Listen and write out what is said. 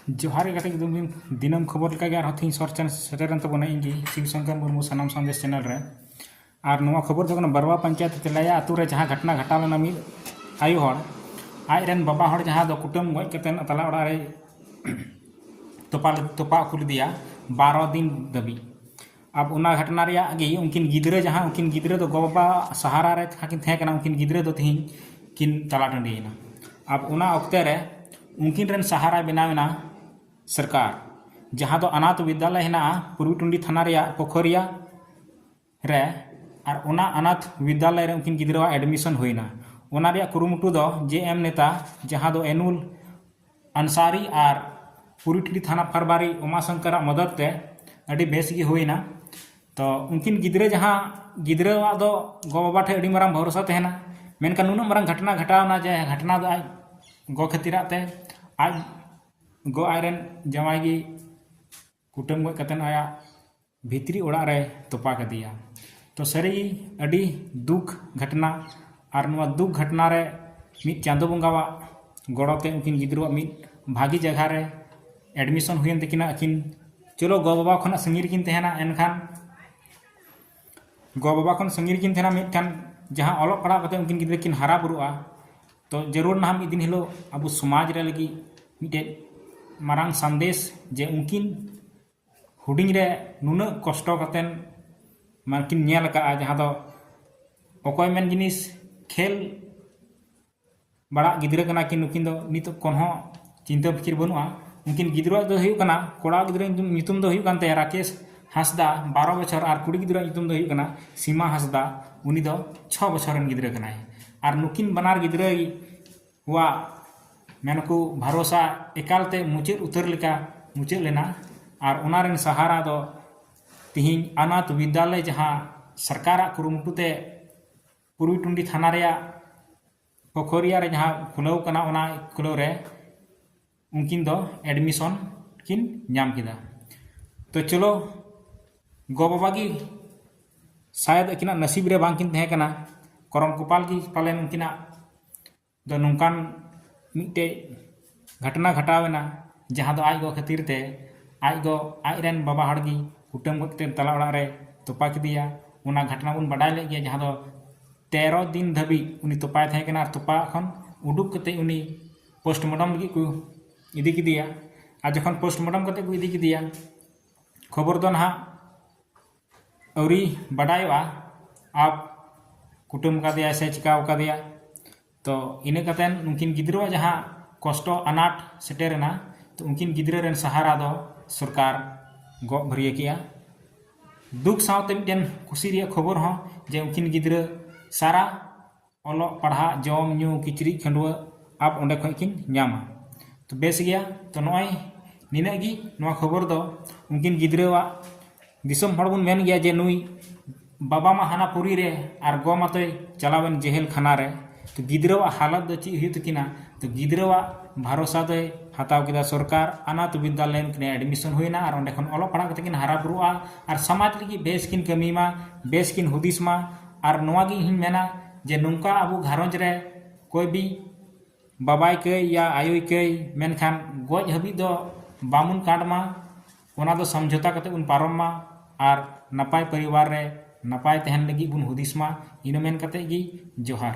ᱡᱚᱦᱟᱨ ᱜᱮ ᱜᱟᱛᱮ ᱠᱚ ᱫᱤᱱ ᱫᱤᱱᱟᱹᱢ ᱠᱷᱚᱵᱚᱨ ᱞᱮᱠᱟ ᱜᱮ ᱟᱨᱦᱚᱸ ᱛᱤᱦᱤᱧ ᱥᱚᱨ ᱪᱟᱱ ᱥᱮᱴᱮᱨᱮᱱ ᱛᱟᱵᱚᱱᱟ ᱤᱧ ᱜᱮ ᱥᱤᱵ ᱥᱚᱝᱠᱚᱨ ᱢᱩᱨᱢᱩ ᱥᱟᱱᱟᱢ ᱥᱟᱸᱫᱮᱥ ᱪᱮᱱᱮᱞ ᱨᱮ ᱟᱨ ᱱᱚᱣᱟ ᱠᱷᱚᱵᱚᱨ ᱫᱚ ᱠᱟᱱᱟ ᱵᱟᱨᱣᱟ ᱯᱚᱧᱪᱟᱭᱮᱛ ᱛᱮᱞᱟᱭᱟ ᱟᱛᱳ ᱨᱮ ᱡᱟᱦᱟᱸ ᱜᱷᱚᱴᱱᱟ ᱜᱷᱟᱴᱟᱣ ᱞᱮᱱᱟ ᱢᱤᱫ ᱟᱭᱳ ᱦᱚᱲ ᱟᱡ ᱨᱮᱱ ᱵᱟᱵᱟ ᱦᱚᱲ ᱡᱟᱦᱟᱸ ᱫᱚ ᱠᱩᱴᱟᱹᱢ ᱜᱚᱡ ᱠᱟᱛᱮ ᱛᱟᱞᱟ ᱚᱲᱟᱜ ᱨᱮ ᱛᱚᱯᱟ ᱛᱚᱯᱟ ᱦᱚᱪᱚ ᱞᱮᱫᱮᱭᱟ ᱵᱟᱨᱚ ᱫᱤᱱ ᱫᱷᱟᱹᱵᱤᱡ ᱟᱵ ᱚᱱᱟ ᱜᱷᱟᱴᱱᱟ ᱨᱮᱭᱟᱜ ᱜᱮ ᱩᱱᱠᱤᱱ ᱜᱤᱫᱽᱨᱟᱹ ᱡᱟᱦᱟᱸ ᱩᱱᱠᱤᱱ ᱜᱤᱫᱽᱨᱟᱹ ᱫᱚ ᱜᱚᱼᱵᱟᱵᱟ ᱥᱟᱦᱟᱨᱟ ᱨᱮ ᱡᱟᱦᱟᱸ ᱠᱤᱱ ᱛᱟᱦᱮᱸ ᱠᱟᱱᱟ ᱩᱱᱠᱤᱱ ᱜᱤᱫᱽᱨᱟᱹ ᱫᱚ ᱛᱮᱦᱮᱧ ᱠᱤᱱ ᱛᱟᱞᱟ ᱴᱟᱺᱰᱤᱭᱮᱱᱟ ᱟᱵ ᱚᱱᱟ ᱚᱠᱛᱮ ᱨᱮ ᱩᱱᱠᱤᱱ ᱨᱮᱱ ᱥᱟᱦᱟᱨᱟᱭ ᱵᱮᱱᱟᱣ ᱮᱱᱟ ᱥᱚᱨᱠᱟᱨ ᱡᱟᱦᱟᱸ ᱫᱚ ᱟᱱᱟᱛᱷ ᱵᱤᱫᱽᱫᱟᱞᱚᱭ ᱦᱮᱱᱟᱜᱼᱟ ᱯᱩᱨᱵᱤ ᱴᱩᱸᱰᱤ ᱛᱷᱟᱱᱟ ᱨᱮᱭᱟᱜ ᱯᱳᱠᱷᱚᱨᱤᱭᱟ ᱨᱮ ᱟᱨ ᱚᱱᱟ ᱟᱱᱟᱛᱷ ᱵᱤᱫᱽᱫᱟᱞᱚᱭ ᱨᱮ ᱩᱱᱠᱤᱱ ᱜᱤᱫᱽᱨᱟᱹᱣᱟᱜ ᱮᱰᱢᱤᱥᱚᱱ ᱦᱩᱭᱮᱱᱟ ᱚᱱᱟ ᱨᱮᱭᱟᱜ ᱠᱩᱨᱩᱢᱩᱴᱩ ᱫᱚ ᱡᱮ ᱮᱢ ᱱᱮᱛᱟ ᱡᱟᱦᱟᱸ ᱫᱚ ᱮᱱᱩᱞ ᱟᱱᱥᱟᱨᱤ ᱟᱨ ᱯᱩᱨᱤᱴᱞᱤ ᱛᱷᱟᱱᱟ ᱯᱷᱟᱨᱵᱟᱨᱤ ᱩᱢᱟ ᱥᱚᱝᱠᱚᱨ ᱟᱜ ᱢᱚᱫᱚᱫ ᱛᱮ ᱟᱹᱰᱤ ᱵᱮᱥ ᱜᱮ ᱦᱩᱭᱮᱱᱟ ᱛᱚ ᱩᱱᱠᱤᱱ ᱜᱤᱫᱽᱨᱟᱹ ᱡᱟᱦᱟᱸ ᱜᱤᱫᱽᱨᱟᱹ ᱟᱜ ᱫᱚ ᱜᱚ ᱵᱟᱵᱟ ᱴᱷᱮᱱ ᱟᱹᱰᱤ ᱢᱟᱨᱟᱝ ᱵᱷᱚᱨᱥᱟ ᱛᱟᱦᱮᱱᱟ ᱢᱮᱱᱠᱷᱟᱱ ᱱᱩᱱᱟᱹᱜ ᱢᱟᱨᱟᱝ ᱜᱷᱚᱴᱚᱱᱟ ᱜᱷᱚᱴᱟᱣᱱᱟ ᱡᱮ ᱜᱷᱚᱴᱚᱱᱟ ᱫᱚ ᱟᱡ ᱜᱚ ᱠᱷᱟᱹᱛᱤᱨᱟᱜ ᱛᱮ ᱟᱡ ᱜᱚ ᱟᱡ ᱨᱮᱱ ᱡᱟᱶᱟᱭ ᱜᱮ ᱠᱩᱴᱟᱹᱢ ᱜᱚᱡ ᱠᱟᱛᱮᱫ ᱟᱭᱟᱜ ᱵᱷᱤᱛᱨᱤ ᱚᱲᱟᱜ ᱨᱮᱭ ᱛᱚᱯᱟ ᱠᱮᱫᱮᱭᱟ ᱛᱚ ᱥᱟᱹᱨᱤ ᱜᱮ ᱟᱹᱰᱤ ᱫᱩᱠ ᱜᱷᱟᱴᱱᱟ ᱟᱨ ᱱᱚᱣᱟ ᱫᱩᱠ ᱜᱷᱟᱴᱱᱟ ᱨᱮ ᱢᱤᱫ ᱪᱟᱸᱫᱚ ᱵᱚᱸᱜᱟᱣᱟᱜ ᱜᱚᱲᱚ ᱛᱮ ᱩᱱᱠᱤᱱ ᱜᱤᱫᱽᱨᱟᱹᱣᱟᱜ ᱢᱤᱫ ᱵᱷᱟᱹᱜᱤ ᱡᱟᱭᱜᱟ ᱨᱮ ᱮᱰᱢᱤᱥᱚᱱ ᱦᱩᱭᱮᱱ ᱛᱟᱹᱠᱤᱱᱟ ᱟᱹᱠᱤᱱ ᱪᱚᱞᱚ ᱜᱚ ᱵᱟᱵᱟ ᱠᱷᱚᱱᱟᱜ ᱥᱟᱺᱜᱤᱧ ᱨᱮᱠᱤᱱ ᱛᱟᱦᱮᱱᱟ ᱮᱱᱠᱷᱟᱱ ᱜᱚ ᱵᱟᱵᱟ ᱠᱷᱚᱱ ᱥᱟᱺᱜᱤᱧ ᱨᱮᱠᱤᱱ ᱛᱟᱦᱮᱱᱟ ᱢᱤᱫᱴᱟᱝ ᱡᱟᱦᱟᱸ ᱚᱞᱚᱜ ᱯᱟᱲᱦᱟᱣ ᱠᱟᱛᱮ ᱩᱱᱠᱤᱱ ᱜᱤᱫᱽᱨᱟᱹ ᱠᱤᱱ ᱦᱟᱨᱟ ᱵᱩᱨᱩᱜᱼᱟ ᱛᱚ ᱡᱟᱹᱨᱩᱲ ᱱᱟᱦᱟᱜ ᱢᱤᱫ ᱫᱤᱱ ᱦᱤᱞᱳᱜ ᱟᱵᱚ ᱥᱚᱢᱟᱡᱽ ᱨᱮ ᱞᱟᱹᱜᱤᱫ ᱢᱤᱫᱴᱮᱡ ᱢᱟᱨᱟᱝ ᱥᱟᱸᱫᱮᱥ ᱡᱮ ᱩᱱᱠᱤᱱ ᱦᱩᱰᱤᱧ ᱨᱮ ᱱᱩᱱᱟᱹᱜ ᱠᱚᱥᱴᱚ ᱠᱟᱛᱮᱱ ᱢᱟᱱᱮ ᱠᱤᱱ ᱧᱮᱞ ᱟᱠᱟᱫᱼᱟ ᱡᱟᱦᱟᱸ ᱫᱚ ᱚᱠᱚᱭ ᱢᱮᱱ ᱡᱤᱱᱤᱥ ᱠᱷᱮᱞ ᱵᱟᱲᱟᱜ ᱜᱤᱫᱽᱨᱟᱹ ᱠᱟᱱᱟ ᱠᱤᱱ ᱱᱩᱠᱤᱱ ᱫᱚ ᱱᱤᱛᱚᱜ ᱠᱷᱚᱱ ᱦᱚᱸ ᱪᱤᱱᱛᱟᱹ ᱯᱷᱤᱠᱤᱨ ᱵᱟᱹᱱᱩᱜᱼᱟ ᱩᱱᱠᱤᱱ ᱜᱤᱫᱽᱨᱟᱹ ᱫᱚ ᱦᱩᱭᱩᱜ ᱠᱟᱱᱟ ᱠᱚᱲᱟ ᱜᱤᱫᱽᱨᱟᱹ ᱧᱩᱛᱩᱢ ᱫᱚ ᱦᱩᱭᱩᱜ ᱠᱟᱱ ᱛᱟᱭᱟ ᱨᱟᱠᱮᱥ ᱦᱟᱸᱥᱫᱟ ᱵᱟᱨᱚ ᱵᱚᱪᱷᱚᱨ ᱟᱨ ᱠᱩᱲᱤ ᱜᱤᱫᱽᱨᱟᱹ ᱧᱩᱛᱩᱢ ᱫᱚ ᱦᱩᱭᱩᱜ ᱠᱟᱱᱟ ᱥᱤᱢᱟ ᱦᱟᱸᱥᱫᱟ ᱩᱱᱤ ᱫᱚ ᱪᱷᱚ ᱵᱚᱪᱷᱚᱨ ᱨᱮᱱ ᱜᱤᱫᱽᱨᱟᱹ ᱠᱟᱱᱟᱭ ᱟᱨ ᱱᱩᱠᱤᱱ ᱵᱟᱱᱟᱨ ᱜᱤᱫᱽᱨᱟᱹ ᱠᱚᱣᱟᱜ ᱢᱮᱱᱟᱠᱚ ᱵᱷᱟᱨᱚᱥᱟ ᱮᱠᱟᱞᱛᱮ ᱢᱩᱪᱟᱹᱫ ᱩᱛᱟᱹᱨ ᱞᱮᱠᱟ ᱢᱩᱪᱟᱹᱫ ᱞᱮᱱᱟ ᱟᱨ ᱚᱱᱟ ᱨᱮᱱ ᱥᱟᱦᱟᱨᱟ ᱫᱚ ᱛᱤᱦᱤᱧ ᱟᱱᱟᱛᱷ ᱵᱤᱫᱽᱫᱟᱞᱚᱭ ᱡᱟᱦᱟᱸ ᱥᱚᱨᱠᱟᱨᱟᱜ ᱠᱩᱨᱩᱢᱩᱴᱩ ᱛᱮ ᱯᱩᱨᱵᱤ ᱴᱩᱱᱰᱤ ᱛᱷᱟᱱᱟ ᱨᱮᱭᱟᱜ ᱯᱳᱠᱷᱚᱨᱤᱭᱟ ᱨᱮ ᱡᱟᱦᱟᱸ ᱠᱷᱩᱞᱟᱹᱣ ᱠᱟᱱᱟ ᱚᱱᱟ ᱠᱷᱩᱞᱟᱹᱣ ᱨᱮ ᱩᱱᱠᱤᱱ ᱫᱚ ᱮᱰᱢᱤᱥᱚᱱ ᱠᱤᱱ ᱧᱟᱢ ᱠᱮᱫᱟ ᱛᱚ ᱪᱚᱞᱚ ᱜᱚ ᱵᱟᱵᱟ ᱜᱮ ᱥᱟᱭᱟᱫ ᱟᱹᱠᱤᱱᱟᱜ ᱱᱟᱥᱤᱵ ᱨᱮ ᱵᱟᱝ ᱠᱤᱱ ᱛᱟᱦᱮᱸ ᱠᱟᱱᱟ ᱠᱚᱨᱚᱢ ᱠᱚᱯᱟᱞ ᱜᱮ ᱯᱟᱞᱮᱱ ᱩᱱᱠᱤᱱᱟᱜ ᱫᱚ ᱱᱚᱝᱠᱟᱱ ᱢᱤᱫᱴᱮᱡ ᱜᱷᱟᱴᱱᱟ ᱜᱷᱟᱴᱟᱣ ᱮᱱᱟ ᱡᱟᱦᱟᱸ ᱫᱚ ᱟᱡ ᱜᱚ ᱠᱷᱟᱹᱛᱤᱨ ᱛᱮ ᱟᱡ ᱜᱚ ᱟᱡ ᱨᱮᱱ ᱵᱟᱵᱟ ᱦᱚᱲ ᱜᱮ ᱠᱩᱴᱟᱹᱢ ᱜᱚᱡ ᱠᱟᱛᱮ ᱛᱟᱞᱟ ᱚᱲᱟᱜ ᱨᱮ ᱛᱚᱯᱟ ᱠᱮᱫᱮᱭᱟ ᱚᱱᱟ ᱜᱷᱟᱴᱱᱟ ᱵᱚᱱ ᱵᱟᱰᱟᱭ ᱞᱮᱫ ᱜᱮᱭᱟ ᱡᱟᱦᱟᱸ ᱫᱚ ᱛᱮᱨᱚ ᱫᱤᱱ ᱫᱷᱟᱹᱵᱤᱡ ᱩᱱᱤ ᱛᱚᱯᱟᱭ ᱛᱟᱦᱮᱸ ᱠᱟᱱᱟ ᱟᱨ ᱛᱚᱯᱟ ᱠᱷᱚᱱ ᱩᱰᱩᱠ ᱠᱟᱛᱮ ᱩᱱᱤ ᱯᱳᱥᱴᱢᱚᱨᱴᱚᱢ ᱞᱟᱹᱜᱤᱫ ᱠᱚ ᱤᱫᱤ ᱠᱮᱫᱮᱭᱟ ᱟᱨ ᱡᱚᱠᱷᱚᱱ ᱯᱳᱥᱴᱢᱚᱨᱴᱚᱢ ᱠᱟᱛᱮ ᱠᱚ ᱤᱫᱤ ᱠᱮᱫᱮᱭᱟ ᱠᱷᱚᱵᱚᱨ ᱫᱚ ᱱᱟᱦᱟᱜ ᱟᱹᱣᱨᱤ ᱵᱟᱰᱟᱭᱚᱜᱼᱟ ᱟᱨ ᱠᱩᱴᱟᱹᱢ ᱠᱟᱫᱮᱭᱟ ᱥᱮ ᱪᱤᱠᱟᱹᱣ ᱠᱟᱫᱮᱭᱟ ᱛᱚ ᱤᱱᱟᱹ ᱠᱟᱛᱮ ᱩᱱᱠᱤᱱ ᱜᱤᱫᱽᱨᱟᱹᱣᱟᱜ ᱡᱟᱦᱟᱸ ᱠᱚᱥᱴᱚ ᱟᱱᱟᱴ ᱥᱮᱴᱮᱨᱮᱱᱟ ᱛᱚ ᱩᱱᱠᱤᱱ ᱜᱤᱫᱽᱨᱟᱹ ᱨᱮᱱ ᱥᱟᱦᱟᱨᱟ ᱫᱚ ᱥᱚᱨᱠᱟᱨ ᱜᱚᱜ ᱵᱷᱟᱹᱨᱭᱟᱹ ᱠᱮᱜᱼᱟ ᱫᱩᱠ ᱥᱟᱶᱛᱮ ᱢᱤᱫᱴᱮᱱ ᱠᱩᱥᱤ ᱨᱮᱭᱟᱜ ᱠᱷᱚᱵᱚᱨ ᱦᱚᱸ ᱡᱮ ᱩᱱᱠᱤᱱ ᱜᱤᱫᱽᱨᱟᱹ ᱥᱟᱨᱟ ᱚᱞᱚᱜ ᱯᱟᱲᱦᱟᱜ ᱡᱚᱢ ᱧᱩ ᱠᱤᱪᱨᱤᱡ ᱠᱷᱟᱹᱰᱣᱟᱹᱜ ᱟᱵ ᱚᱸᱰᱮ ᱠᱷᱚᱱ ᱠᱤᱱ ᱧᱟᱢᱟ ᱛᱚ ᱵᱮᱥ ᱜᱮᱭᱟ ᱛᱚ ᱱᱚᱜᱼᱚᱭ ᱱᱤᱱᱟᱹᱜ ᱜᱮ ᱱᱚᱣᱟ ᱠᱷᱚᱵᱚᱨ ᱫᱚ ᱩᱱᱠᱤᱱ ᱜᱤᱫᱽᱨᱟᱹᱣᱟᱜ ᱫᱤᱥᱚᱢ ᱦᱚᱲ ᱵᱚᱱ ᱢᱮᱱ ᱜᱮᱭᱟ ᱡᱮ ᱱᱩᱭ ᱵᱟᱵᱟ ᱢᱟ ᱦᱟᱱᱟ ᱯᱩᱨᱤ ᱨᱮ ᱟᱨ ᱜᱚ ᱢᱟᱛᱚᱭ ᱪᱟᱞᱟᱣᱮᱱ ᱡᱮᱦᱮᱞ ᱠᱷᱟᱱᱟ ᱨᱮ ᱛᱚ ᱜᱤᱫᱽᱨᱟᱹᱣᱟᱜ ᱦᱟᱞᱚᱛ ᱫᱚ ᱪᱮᱫ ᱦᱩᱭᱩᱜ ᱛᱟᱹᱠᱤᱱᱟ ᱛᱚ ᱜᱤᱫᱽᱨᱟᱹᱣᱟᱜ ᱵᱷᱟᱨᱚᱥᱟ ᱫᱚᱭ ᱦᱟᱛᱟᱣ ᱠᱮᱫᱟ ᱥᱚᱨᱠᱟᱨ ᱟᱱᱟᱛ ᱵᱤᱫᱽᱫᱟᱞᱚᱭ ᱩᱱᱠᱤᱱ ᱮᱰᱢᱤᱥᱚᱱ ᱦᱩᱭᱱᱟ ᱟᱨ ᱚᱸᱰᱮ ᱠᱷᱚᱱ ᱚᱞᱚᱜ ᱯᱟᱲᱦᱟᱜ ᱠᱟᱛᱮᱫ ᱠᱤᱱ ᱦᱟᱨᱟ ᱵᱩᱨᱩᱜᱼᱟ ᱟᱨ ᱥᱚᱢᱟᱡᱽ ᱞᱟᱹᱜᱤᱫ ᱵᱮᱥ ᱠᱤᱱ ᱠᱟᱹᱢᱤ ᱢᱟ ᱵᱮᱥ ᱠᱤᱱ ᱦᱩᱫᱤᱥ ᱢᱟ ᱟᱨ ᱱᱚᱣᱟ ᱜᱮ ᱤᱧᱦᱚᱧ ᱢᱮᱱᱟ ᱡᱮ ᱱᱚᱝᱠᱟ ᱟᱵᱚ ᱜᱷᱟᱨᱚᱸᱡᱽ ᱨᱮ ᱚᱠᱚᱭ ᱵᱤ ᱵᱟᱵᱟᱭ ᱠᱟᱹᱭ ᱭᱟ ᱟᱭᱳᱭ ᱠᱟᱹᱭ ᱢᱮᱱᱠᱷᱟᱱ ᱜᱚᱡ ᱦᱟᱹᱵᱤᱡ ᱫᱚ ᱵᱟᱵᱚᱱ ᱠᱟᱴ ᱢᱟ ᱚᱱᱟ ᱫᱚ ᱥᱚᱢᱡᱷᱚᱛᱟ ᱠᱟᱛᱮ ᱵᱚᱱ ᱯᱟᱨᱚᱢ ᱢᱟ ᱟᱨ ᱱᱟᱯᱟᱭ ᱯᱚᱨᱤᱵᱟᱨ ᱨᱮ ᱱᱟᱯᱟᱭ ᱛᱟᱦᱮᱱ ᱞᱟᱹᱜᱤᱫ ᱵᱚᱱ ᱦᱩᱫᱤᱥ ᱢᱟ ᱤᱱᱟᱹ ᱢᱮᱱ ᱠᱟᱛᱮ ᱜᱮ ᱡᱚᱦᱟᱨ